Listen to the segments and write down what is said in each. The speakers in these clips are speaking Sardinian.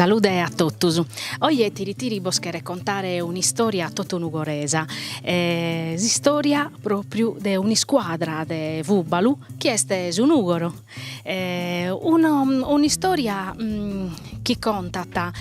Salude a totus. Oje Tiri Tiri bos cheret contare un'istòria totu nugoresa, s'istòria pròpriu de un'iscuadra de fùbalu chi est su Nùgoro. un'istoria chi contat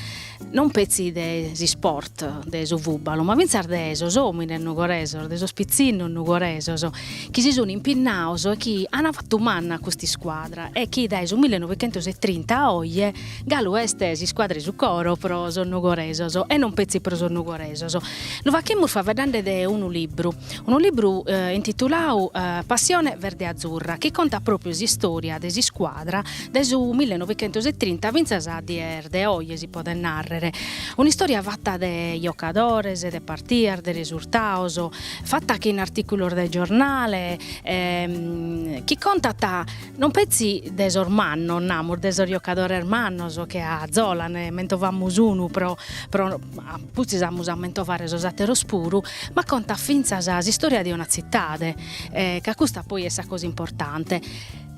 non petzi de s'isport de su fùbalu, ma fintzas de sos omines nugoresos, de sos pitzinnos nugoresos chi si sun impinnaos e chi an fatu manna a custa iscuadra e chi dae su millenovichentositrinta a oje galu est s'iscuadra 'e su coro pro sos nugoresos e non petzi pro sos nugoresos. Lu faghimus faveddande de unu libru unu libru intitulau Passione verde-azzurra chi contat pròpriu s'istòria de s'iscuadra dae su millenovichentositrinta fintzas a dies de oje si podet nàrrere, un'istòria fata de jocadores, de partias, de resurtados, fata chin artìculos de giornale chi contat Non petzi de sos mannos, namus, de sos jocadores mannos che a Zola, nde mentovamus unu pro pro apustis amus a mentovare sos atteros puru, ma contat finzas s'istoria de una zittade e ca custa poi est sa cosa importante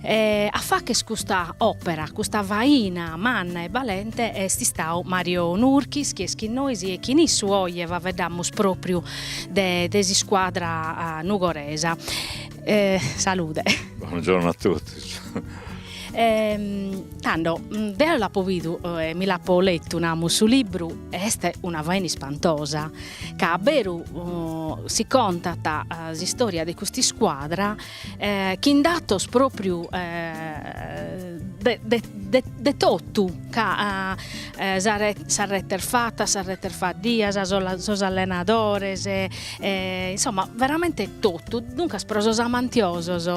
e a facher custa opera, custa faina manna e balente est istadu Mario Nurchis chi est chin nois e chin issu oje faveddamus propriu de de s'iscuadra nugoresa. E salude. Buongiorno a totus. E tando deo l'apo bidu e mi l'apo letu, namus, su libru est una faina ispantosa, ca a beru si contat s'istória de custa iscuadra chin datos própriu de totu, ca sas retes fatas, sas retes faddias, sos allenadores e insomma veramente totu, duncas pro sos amantiosos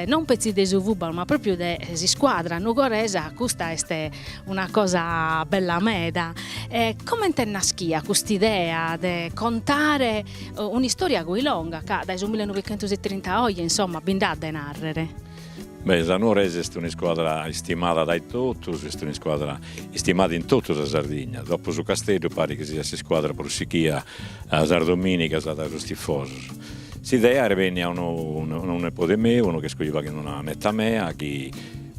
non petzi de su fubbalu ma propriu de s'iscuadra nugoresa custa est una cosa bella meda, e comente est naschia cust'idea de contare un'istoria così longa ca dae su millenovichentositrinta a oje insomma bi nd'at de narrere? Beh, sa Nuorese est un'iscuadra istimada dae totus, est un'iscuadra istimada in totu sa Sardigna, dopu su Casteddu parit chi siat s'iscuadra prus sichia sas domìnigas dae sos tifosos. S'idea est bennia a unu unu nepode meu, unu chi est cojuvau chin una neta mea, chi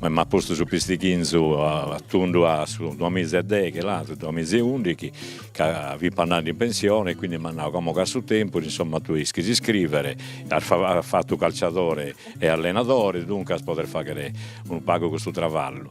m'at postu su pistighinzu a tundu a su duas miza e deghe, là, su duas miza e ùndighi, ca fip' andende in pensione e quindi m'at nau, como ch'as su tempus, insomma, tue ischis iscrìvere, as as fatu su calciadore e allenadoris, duncas poder fagher unu pagu custu travallu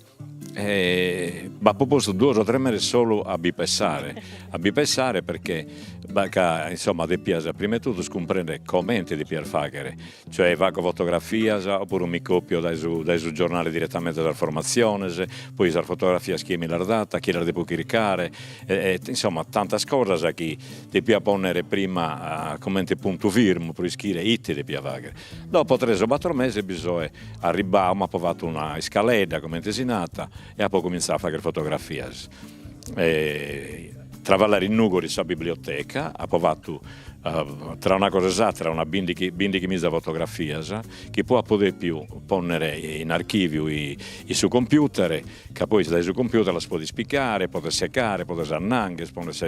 e b'apo postu duos o tres meses solu a bi pensare a bi pensare perché b'at ca insomma depia prima 'e totu cumprender comente depia fagher, cioè faco fotografias o puru mi copio dae su dae su giornale direttamente sas formatziones, poi sas fotografias chie mi las dat, chie las depo chircare e e insomma tantas cosas chi depia ponner prima comente puntu firmu pro ischire ite depia fagher Dopo tres o bator meses bi soe arribbau, m'apo fatu una iscaledda, comente si nat, e apo comintzau a fagher fotografias e travallare in Nugori in sa biblioteca, apo fatu tra una cosa e s'àtera una bindighi miza fotografias, chi poi apo depiu ponner in archiviu in su computer, ca poi dae su computer las podes pigare, podes segare, podes annangher, podes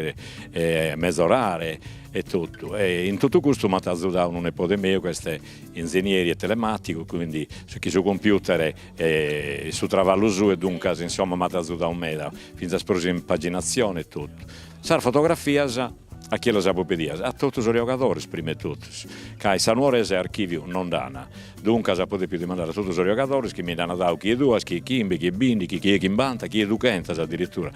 mezorare e totu, e in totu custu m'at azudau unu nepode meu chi est inzenieri telematicu, quindi chi su computer est su travallu suu e duncas insomma m'at azudau meda, finzas pro s'impaginazione e totu. Sas fotografias a chie las apo pedidas? A totu sos giogadores prima 'e totus, ca in sa Nuorese archiviu no nd'an, duncas apo depiu dimandare a totu sos giogadores chi mi nd'an dadu chie duas, chie chimbe, chie binti, chie chimbanta, chie dughentas addirittura,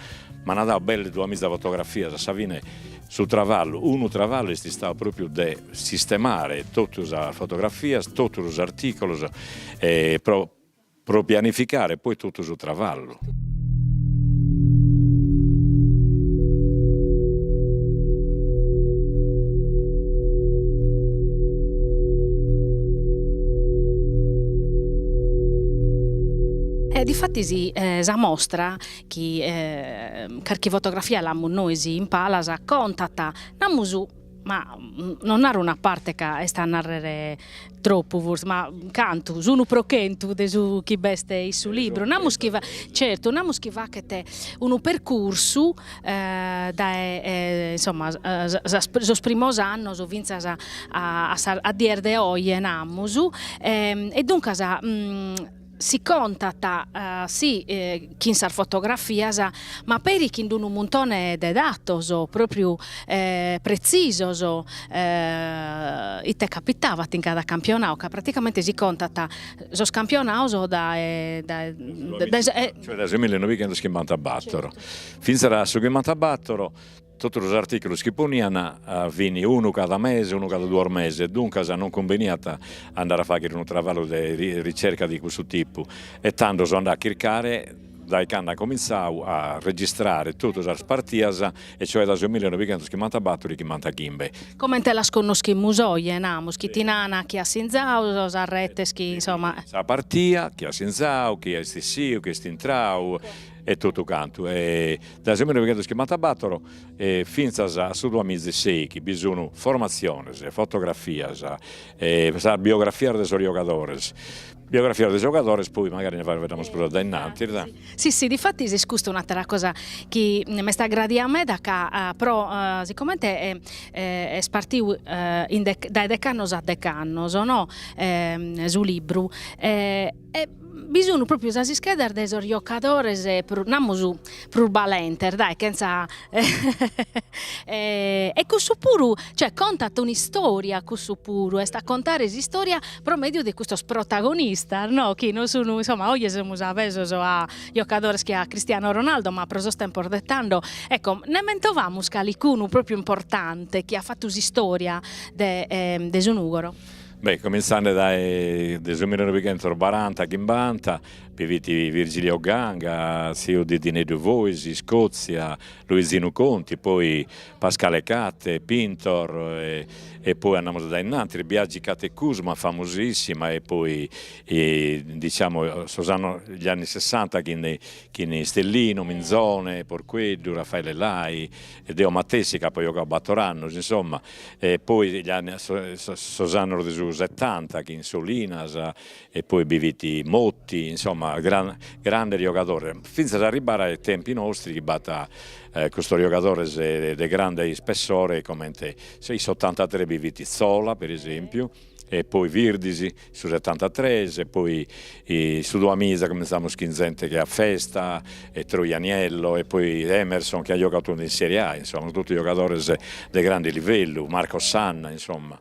m'an dadu belle duamiza fotografias, a sa fine Su travallu, unu travallu est istau pròpiu de sistemare totu sas fotografias, totu sos artìculos e pro pro pianificare poi totu su travallu. E difatis sa mostra chi carchi fotografia l'amus nois in palas, contat, namus, ma non naro una parte ca est a narrer tropu forsis, ma cantu, s'unu pro chentu de su chi b'est in su libru, namus chi certu, namus chi faghet unu percursu dae insomma sos primos annos finzas a dies de oje namus e duncas Si contat, si, chin sas fotografias, ma peri chin d-unu muntone de datos, pròpriu pretzisos, ite capitavat in cada campionau, ca praticamente si contat sos campionaos dae dae dae dae sa e cioè dae su millenovechentoschimbantabattor finzas a su chimbantabattor Totu sos artìculos chi ponian fin unu cada mese, unu cada duos meses e duncas non cumbeniat a andare a fàghere unu travallu de ricerca de custu tipu e tando so andadu a chircare dae cando an comintzadu a registrare totu sas partidas e cioè dae su mille novighentos chimmantabatturu chimmantaghimbe. Comente las connoschimus oje, namus, chi ti nana a chie at sinzadu, sas retes chi, insoma. Sa partia, chie at sinzadu, chie est essiu, chie est intradu. e totu cantu e dae su millinovighentoschimbantàbatoro e fintzas a su duamizi sei chi bi sun formatziones, fotografias e sas biografias de sos giogadores, biografias de giogadores poi mancari nde faeddamus prus dae innantis. Si si difatis est custa un'àtera cosa chi m'est agradiada meda ca pro sicomente est partiu dae dec'annos a dec'annos no su libru e E bi sun pròpiu sas ischedas de sos giocadores, namus, prus balentes, dae, chentza e cussu puru, cioè contat un'istòria cussu puru, est a contare s'istòria pro mèdiu de custos protagonistas no, chi non sun, insomma, oje semus avesos a giocadores che a Cristiano Ronaldo, ma pro sos tempos de tando, ecco, nde mentovamus calicunu pròpiu importante chi at fatu s'istòria de su Nùgoro? Beh, comintzende dae su millinoighentos baranta chimbanta bi fit Virgilio Ganga, tziu de Dineddu Fois, Scozia, Luizinu Conti, poi Pascale Catte, Pintor, e poi andamus dae innantis, Biagi Catte Cusma, famosissima, e poi diciamo sos an gli anni sessanta chin de chin de Stellino, Minzone, Porqueddu, Raffaele Lai, e deo matessi chi apo giogadu bator annos, insomma E poi gli anni sos annos de su setanta chin Solinas e poi bi fit Motti, insomma grandes giogadores, fintzas a arribbare ai tempi nostri chi b'at custos giogadores de grande ispessore comente in s'ottantatrè bi fit Zola, per esempiu e poi Virdis su setantatres e poi su Duamiza cumentzamus chin zente che a Festa e Troianiello e poi Emerson che at giogadu in Serie A insomma tottu giogadores de grande livellu Marco Sanna insomma.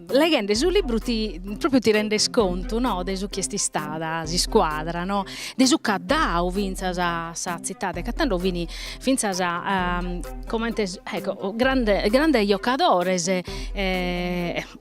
Leghende su libru ti propriu ti rendes contu no de su chi est istada s'iscuadra no, de su ch'at dadu finzas a sa tzitade, ca tando fin finzas comente ecco grande grandes giocadores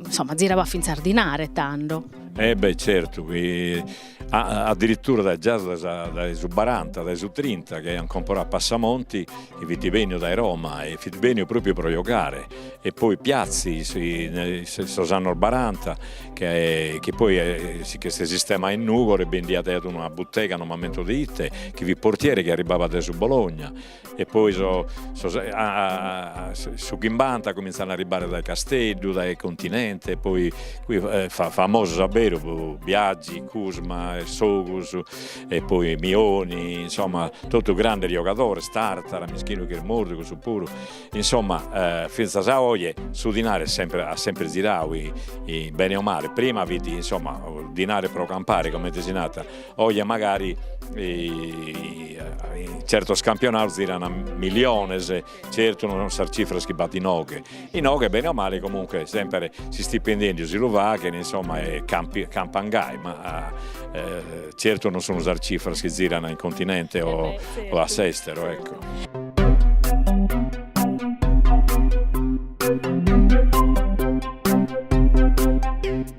insomma zirabat finzas dinare tando. E beh certu chi addirittura dae già dae su baranta dae su trinta chi aian comporadu a Passamonti chi fit benniu dae Roma e fit benniu propriu pro giogare e poi piazzi sos annos baranta chi chi poi s'est sistemau in Nugoro e bendiat aiat una buttega no m'ammento de ite chi fit portiere chi arribabat dae su Bologna E poi sos su chimbanta cominzan a arribare dae Casteddu, dae Continente e poi cussos famosos a beru pro Biagi, Cusma e Sogus e poi Mioni, insomma totu grandes giogadores, Tartara, mischinu chi est mortu cussu puru, insomma finzas a oje su dinari est sempre at sempre ziradu in bene o male, prima fit insomma dinari pro campare comente si nat Oje magari certos campionados ziran miliones, certu non son sas cifras chi b'at inoghe, inoghe bene o male comunque sempre si stipendiu si lu faghen insomma e campan gai, ma certu non sun sas cifras chi ziran in continente o a s'estero ecco.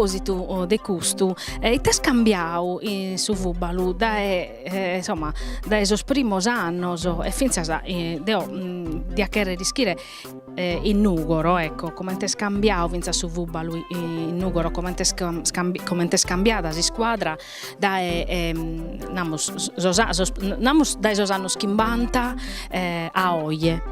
propòsitu de custu, ite est cambiadu in su fùbalu dae insomma dae sos primos annos e fintzas deo diat chèrrere ischire in Nùgoro ecco comente est cambiadu fintzas su fùbalu in Nùgoro comente est comente est cambiada s'iscuadra dae namus sos sos namus dae sos annos chimbanta a oje.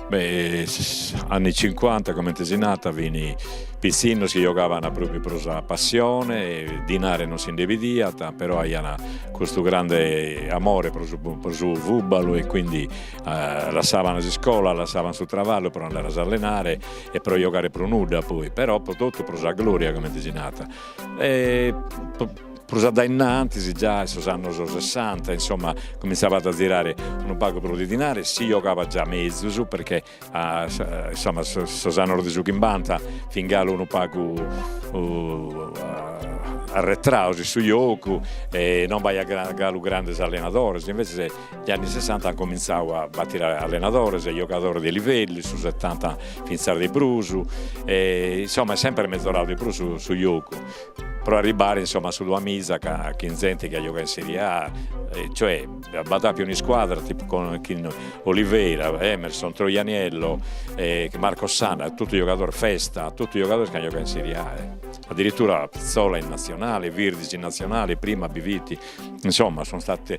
Beh gli anni cinquanta comente si nat fin pitzinnos chi giogaban propriu pro sa passione, dinare non si nde bidiat però aian custu grande amore pro su pro su fùbalu e quindi Lassaban s'iscola, lassaban su travallu pro andare a s'allenare e pro giogare pro nudda poi, però pro totu pro sa gloria comente si nat e prus a dainnantis già in sos annos sessanta insomma comintzaiat a zirare unu pagu prus de dinare, si giogabat già mezus perché insomma sos annos de su chimbanta fin galu unu pagu arretraos in su giogu e non b'aiat galu grandes allenadores invece Negli anni sessanta an comintzadu a batire allenadores e giogadores de livellu, in su setanta fintzas de prus, e insomma est sempre mezoradu de prus su giogu, pro arribare insomma a su duamiza chin zente chi at giogadu in Serie A, cioè b'at appiu un'iscuadra tipu con chin Oliveira, Emerson, Troianiello, e Marcos Sanna, totu giogadores, Festa, totu giogadores chi an giogadu in Serie A, addirittura poi Zola in Natzionale, Virdis in Natzionale, prima bi fit, insomma sun istaos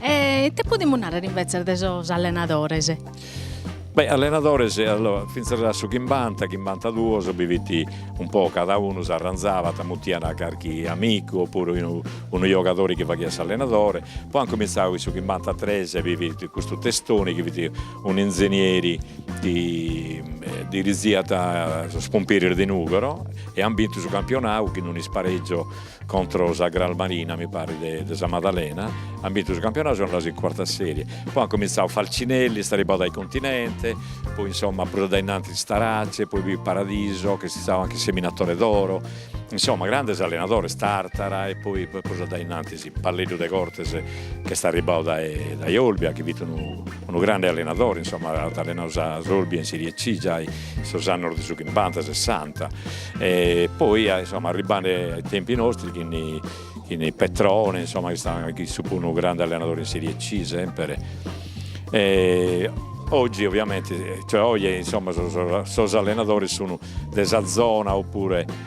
E ite podimus narrere invetzes de sos allenadores? Beh allenadores allora finzas a su chimbanta chimbanta duos bi fit un po' cada unu s'arranzabat mutian carchi amigu o puru unu unu giogadori chi faghiat s'allenadore, poi an cominzadu in su chimbanta tres bi fit custu Testoni chi fit un'inzenieri chi diriziat sos Pumpieris de Nùgoro e an bintu su campionau chin d'un'isparegiu Contro sa Cral Marina mi parit de de sa Madalena an bintu su campionau sun andaos in cuarta serie. Poi an comintzau Falcinelli, est arribbau dae Continente, poi insomma prus a dae innantis Starace, poi Paradiso ch'est istau anche seminatore d'oro, insomma grandes allenadores, Tartara e poi prus a dae innantis Palleddu Degortes ch'est arribbau dae dae Olbia chi fit unu Unu grande allenadore, insomma, at allenau s'Olbia in Serie C giai in sos annos de su chimbanta, sessanta e poi, insomma, arribbande ai tempi nostri chin chin Petrone, insomma, chi est istau unu grande allenadore in Serie C semper e oggi ovviamente, cioè oje, insomma, sos allenadores sun de sa zona oppure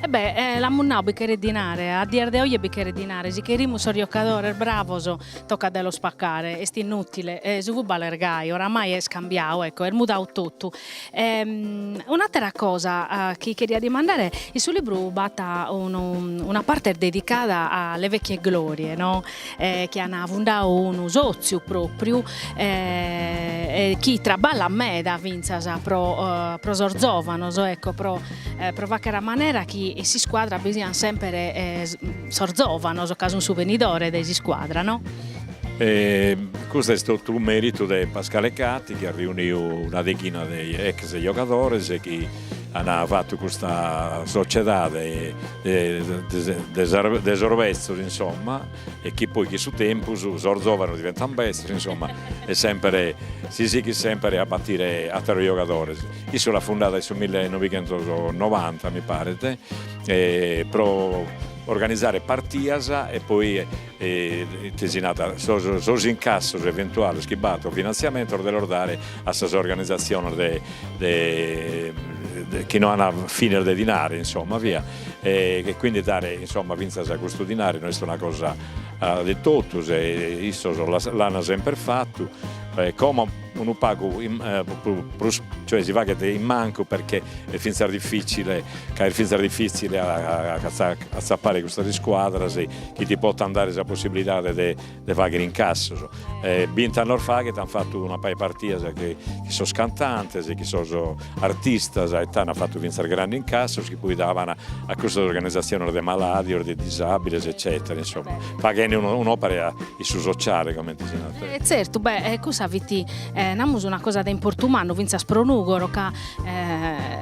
E bè l'amus nau bi cheret dinare, a dies de oje bi cheret dinare, si cherimus sos giocadores bravos tocat de los pacare, est inutile, su fubbal est gai, oramai est cambiau, ecco est mudau totu, Un'àtera cosa chi cheriat dimandare, in su libru b'at unu una parte dedicada a le vecchie glorie no chi an fundau unu sòtziu pròpriu e chi traballat meda fintzas pro pro sos zòvanos ecco pro pro facher a manera chi in s'iscuadra bi sian semper sos zòvanos ca sun su benidore de s'iscuadra no E custu est totu meritu de Pascale Catte chi at riuniu una deghina de ex giogadores chi an fatu custa sociedade de sos bezzos insomma e chi poi chin su tempus sos zovanos diventan bezzos insomma e semper si sighit semper a battire atteros giogadores. Issu l'at fundada in su mille novighentos novanta mi paret e pro organizare partias e poi ite si nat, sos incassos eventuales chi b'at o finantziamentos de los dare a sas organizatziones chi no an fines de dinare insomma via, e quindi dare insomma fintzas a custu dinare no est una cosa de totus e issos l'an semper fatu e como unu pagu prus cioè si faghet in mancu perchè est fintzas dificile ca est fintzas dificile a atzappare custas iscuadras chi ti potant dare sa possibilidade de fagher incassos e bint'annos faghet an fattu una pagu 'e partidas chin sos cantantes chin sos artistas e ana fatu fintzas grandi incassos chi poi daban a custas organizatziones de malàdios, de disàbiles eccètera, insomma, faghende un'òpera in su sociale, comente si narat. E tzertu, beh, e cussa fit, namus, una cosa de importu mannu fintzas pro Nùgoro ca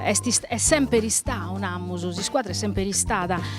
est est semper istadu, namus, s'iscuadra est semper istada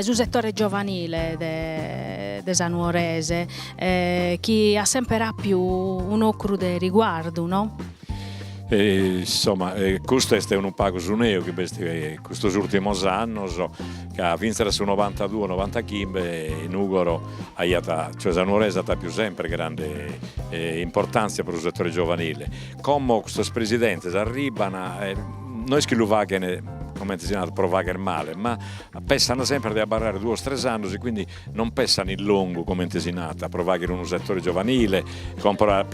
su setore giovanile de sa Nuorese chi at semper apiu un'ocru de riguardu no? Insomma custu est unu pagu su neu chi b'est custos urtimos annos ca finzas su novantaduos novantachimbe in Nugoro aiat cioè sa Nuorese at apiu semper grande importanzia pro su setore giovanile Como custos presidentes arribban e no est chi lu faghen comente si narat pro fagher male, ma pessan sempre de abarrare duos tres annos e quindi non pessan in longu comente si narat pro fagher unu settore giovanile, comporare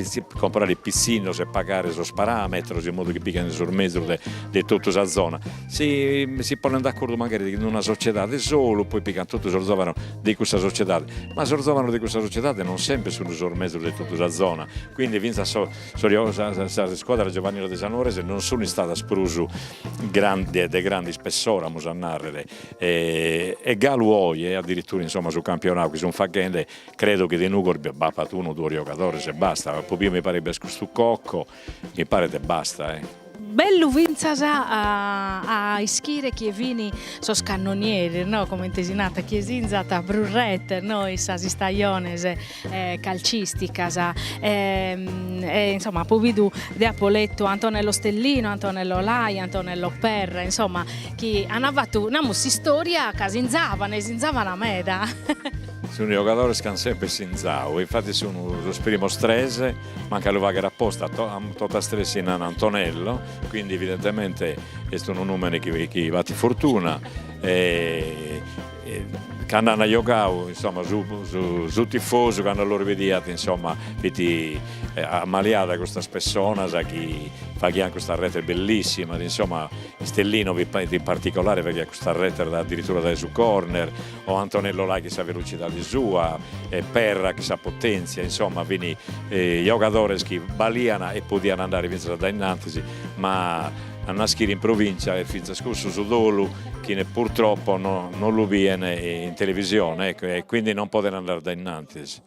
pitzinnos e pagare sos parametros in modu chi pigan sos mezus de de totu sa zona. Si si ponen d'accordu magari chind'una sociedade solu, poi pigan totu sos zovanos de cussa sociedade, ma sos zovanos de cussa sociedade non sempre sun sos mezus de totu sa zona, quindi finzas sos Sas scuadras giovaniles de sa Nuorese non sun istadas prus de de grande ispessore amus a narrere e galu oje addirittura insomma su campionau chi sun faghende credo chi de Nugoro b'apat unu o duos giogadores e basta, apo biu mi paret b'est custu Cocco, mi paret e basta e Bellu fintzas a a ischire chie fini sos cannonieres no comente si nat chie sinzat prus retes no in sas istajones calcisticas e e insomma apo bidu de apo lettu Antonello Stellino, Antonello Lai, Antonello Perra insomma chi an fattu namus s'istoria ca sinzavan e sinzavan meda. Sun giogadores chi an semper sinzadu e infattis sun sos primos tres Manc'a lu fagher aposta, totas tres si nana Antonello, quindi evidentemente est unu numene chi battit fortuna e cando an giogadu insomma su tifosu cando los bidiat insomma fit ammaliau dae custas pessonas chi faghian custas retes bellissimas insomma Stellino in particolare faghiat custas retes addirittura dae su corner O Antonello Lai chin sa velocidade sua, e Perra chin sa potèntzia, insoma fini giogadores chi balian e podian andare fintzas dae innantis, ma a naschire in provìntzia est fintzas cussu su dolu chi purtroppo non lu bien in televisione, ecco, e quindi non poden andare dae innantis.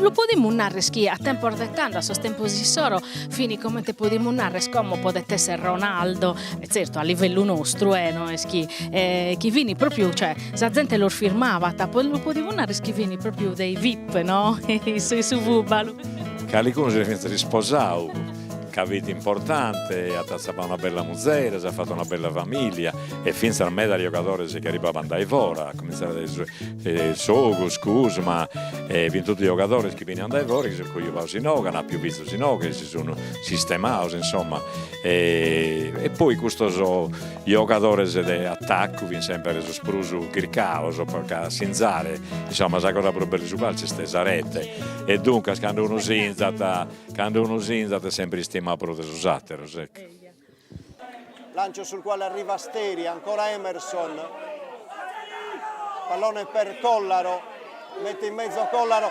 Lu podimus narrer chi a tempos de tando, a sos tempos issoro, fini comente podimus narrer como podet esser Ronaldo, e zertu a livellu nostru e no est chi chi fini propriu cioè sa zente los firmabat, poi lu podimus narrer chi fini propriu dei vip no in su fubbalu. Calicunu si fit isposadu ca fit importante, at atzapau una bella muzere, s'at fatu una bella familia e fintzas medas giogadores chi arribabant dae fora, a comintzare dae su Sogus, Cusma, e fin totu giogadores chi beniant dae fora e chi si sun cojubados inoghe, an appiu fizos inoghe, si sun sistemados insomma e poi custos giogadores de attaccu fin sempre sos prus chircados po ca sinzare, insomma sa cosa prus bella 'e su calciu est sa rete e duncas cando unu sinzat Cando unu sinzat est semper istimau prus de sos àteros, ecco. Lancio sul quale arriva Steri, ancora Emerson, pallone per Collaro, mette in mezzo Collaro,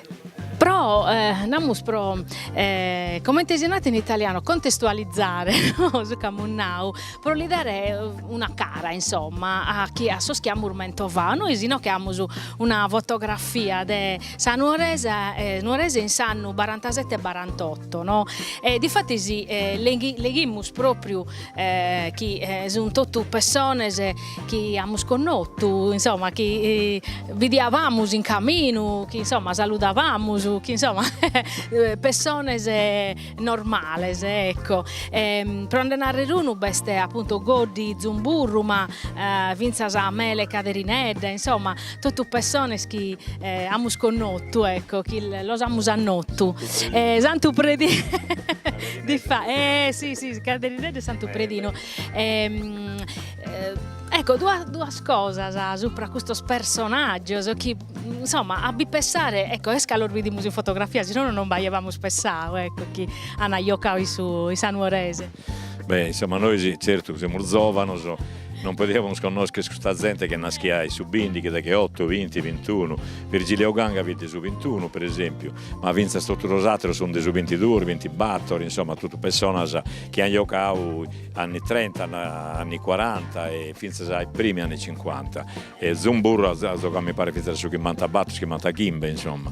Pro, namus pro, comente si nat in italianu, contestualizare no su chi amus nau, pro li dare una cara insomma a chi a sos chi amus mentovau, nois inoche amus una fotografia de sa Nuorese Nuorese in s'annu barantasette e barantotto no, e difatis leghimus propriu chi sun totu pessones chi amus connotu, insomma chi bidiabamus in caminu, chi insomma saludabamus, chi insomma pessones normales ecco, pro nde narrer unu b'est appuntu Goddi Zumburru ma finzas Mele Caderinedda insomma totu pessones chi amus connotu ecco chi los amus annotu e Santu Predinu e si si Caderinedda est Santu Predinu e ecco duas duas cosas supra custos personaggios chi insomma a bi pessare ecco est ca los bidimus in fotografia si nono non b'aiabamus pessau ecco chi an giocadu in su in sa Nuorese. Beh, insomma, nois certu semus zovanos, non podiamus connoscher custa zente ch'est naschia in su bindichi, decheotto, vinti, vintunu, Virgilio Ganga fit de su vintunu, per esempiu, ma finzas totu sos atteros sun de su vintiduos, vintibattor, insomma, totu pessonas chi han jocau anni trenta, anni quaranta e finzas ai primi anni cincuanta. Zumburru at at zogau mi paret finzas a su chimbantabattor, chimbantachimbe, insomma.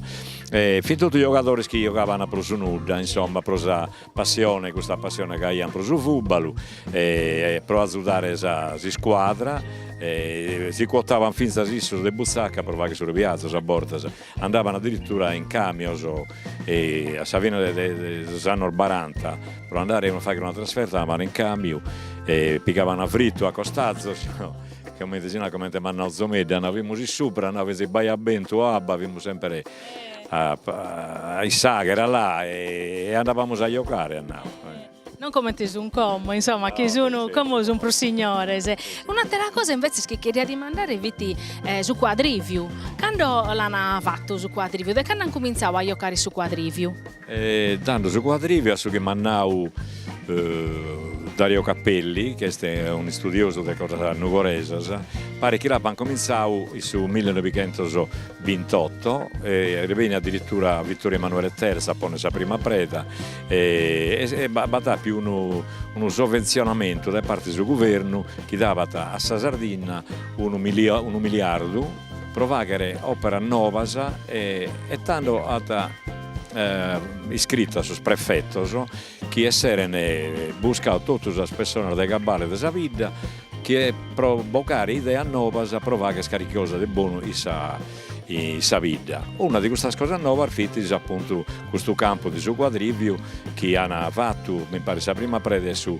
Fin totu jogadores chi jogaban pro su nudda, insomma, pro sa Passione, custa passione ca aian pro su fùbalu e pro azudare sa s'iscuadra e si cuotaban fintzas issos de buzacca pro fagher sos biazzos a bortas, andaban addirittura in camios e a sa fine de sos annos baranta pro andare a fagher una trasferta andaban in camiu e pigaban a frittu a costazos comente si narat comente m'at nau Zomeddu, nau fimus in supra, nau fintzas chi b'aiat bentu o abba fimus sempre a s'àghera là e andabamus a giocare at nau. Non comente sun como, insoma, chi sun como sun prus signores. Un'atera cosa invetzes chi cheria dimandare fit su cuadriviu, cando l'an fatu su cuadriviu, de cando an cumintzau a giocare su cuadriviu? e tando su cuadriviu a su chi m'at nau Dario Capelli, chi est un'istudiosu de cosas nugoresas, paret chi l'appant comintzau in su millenoighientosbintotto e est benniu addirittura Vittorio Emanuele Terzu a ponner sa prima preda e e b'at appiu unu unu sovvenzionamentu dae parte 'e su guvernu chi dabat a sa Sardinna unu unu miliardu pro fàghere òperas novas e e tando at iscritu a sos prefetos chi esseren buscadu totu sas pessonas de cabale de sa bidda chie pro bogare ideas novas pro fagher carchi cosa de bonu in sa in sa bidda. Una de custas cosas novas fit appuntu custu campu de su cuadrìviu chi an fatu mi paret sa prima preda in su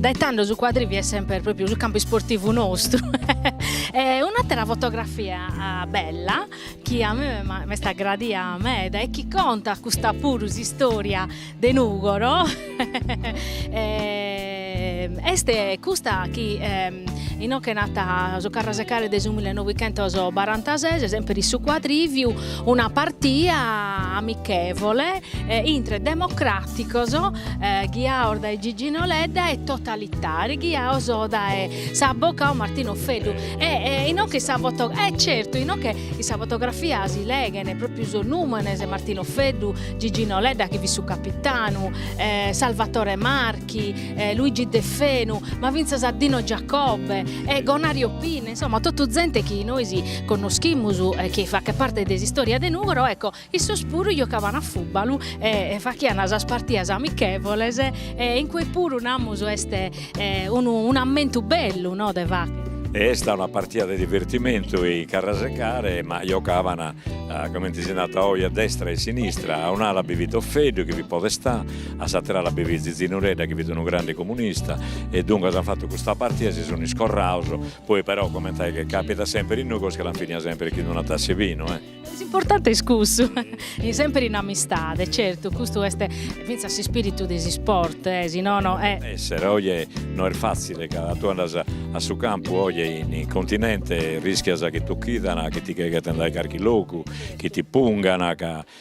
Dae tando su cuadriviu est semper propriu su campu isportivu nostru e un'atera fotografia bella chi a mie m'est agradia meda e chi contat custa puru s'istoria de Nùgoro e Est custa chi inoghe nat su Carrasecare de su millenoighentos barantases, semper in su cuadrìviu, una partia amichevole intre democràticos ghiaos dae Gigino Ledda e totalitàrios ghiaos dae s'abocau Martino Offeddu e inoghe sa foto e certu inoghe in sa fotografia si leghen pròpriu sos nùmenes, Martino Offeddu, Gigino Ledda chi fit su capitanu, Salvatore Marchi Marchi, e Luigi Deffenu, ma fintzas a Dino Giacobbe e Gonario Pinna, insomma totu zente chi nois connoschimus e chi faghet parte de s'istória de Nùgoro, ecco, issos puru giocavan a fùbalu e faghiana sas partias amichèvoles e in cue puru namus est unu un'ammentu bellu, no, de fagher. E est una partia de divertimentu in Carrasecare, ma giocavana, comente si narat oi, a destra e a sinistra, a un'ala bi fit Offeddu chi fit podestà, A s'àtera ala bi fit Zizi Nuredda chi fit unu grande comunista e duncas an fatu custa partida e si sun iscorraus, poi però comente chi capitat semper in Nùgoro che l'an finia semper chin una tass'e vinu e. S'importante est cussu, in semper in amistade, certu custu est fintzas s'ispiritu de s'isport e si nono e. Esser, oje no est fatzile ca tue andas a su campu oje in continente rischias chi t'occhidan, chi ti ghetan dae carchi logu, chi ti pungan ca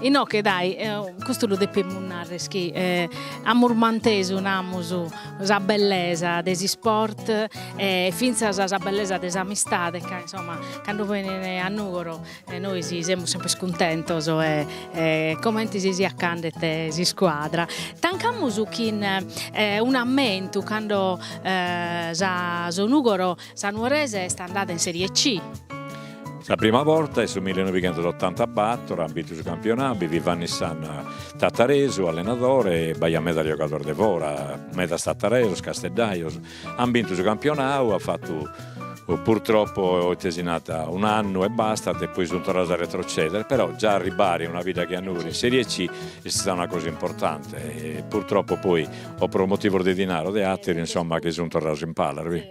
Inoche dai, custu lu depimus narrer chi amus mantesu namus sa bellesa de s'isport e finzas sa bellesa de s'amistade ca insomma cando benin a Nugoro nois semus sempre cuntentos e e comente si siat ch'andet s'iscuadra. Tancamus chin un'ammentu cando sa su Nugoro Sa Nuorese est andada in Serie C. Sa prima borta est su millenovighentosotantabatoro, at bintu su campionau bi fit Vanni Sanna, tataresu, allenadore, e b'aiat medas giogadores de fora, medas tataresos, casteddajos, ant bintu su campionau, ant fatu purtroppo ite si nant un'annu e bastat e poi sunt torrados a retroceder, però già arribbare in una bidda che a Nùgoro in Serie C est istada una cosa importante e purtroppo poi o pro motivos de dinari o de àteru insomma chi sun torrados in palas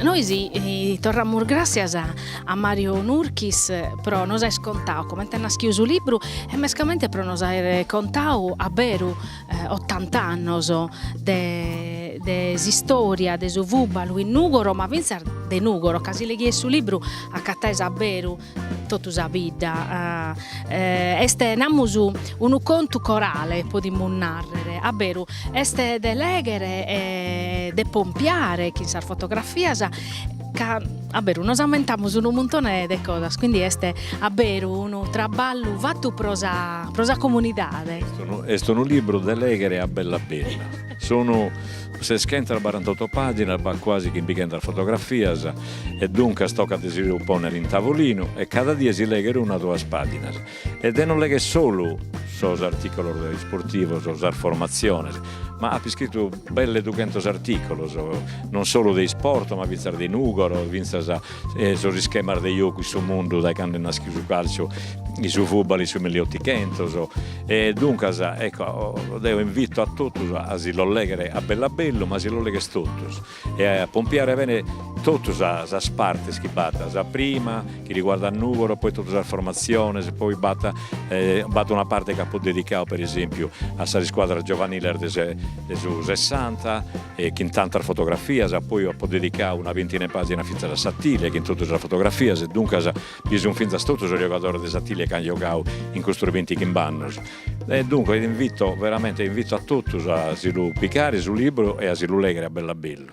Nois torramus gràssias a Mario Nurchis pro nos aer contau comente est naschiu su libru e mescamente pro nos aer contau a beru Otanta annos de de s'istória de su fùbalu in Nùgoro, ma fintzas de Nùgoro, ca si leghies su libru acataes a beru totu sa bidda. Est namus unu contu corale podimus nàrrere, a beru est de lèghere e de pompiare chin sas fotografias ca a beru nos ammentamus unu muntone de cosas, quindi est a beru unu traballu fatu pro sa pro sa comunidade. Est unu est unu libru de leghere a bellu a bellu, sun seschentas barantotto paginas, b'at quasi chimbichentas fotografias e duncas tocat de si lu ponner in tavolinu e cada die si legher una duas paginas. E de no legher solu sos artìculos isportivos, sas formatziones, ma apo iscritu belle dughentos artìculos, non solu de isport ma fintzas de Nùgoro, fintzas sos ischemas de jocu in su mundu dae cando est naschiu su càlciu, su fùtbal in su mille e otighentos. E duncas, ecco, deo invito a totus a si los legher a bellu a bellu, ma si los legher totus. e a pompiare bene totu sas partes chi b'at, sa prima chi riguardat Nùgoro, poi totu sas formatziones, poi b'at b'at una parte chi apo dedicadu per esempiu a sas iscuadras giovaniles de su sessanta e chin tantas fotografias, poi apo dedicadu una bintina 'e pàginas fintzas a s'Atilia chin totu sas fotografias e duncas bi sun fintzas totu sos giogadores de s'Atilia chi an giogadu in custos bintighimb' annos E duncas invito veramente invito a totus a si lu picare su libru e a si lu leghere a bellu a bellu.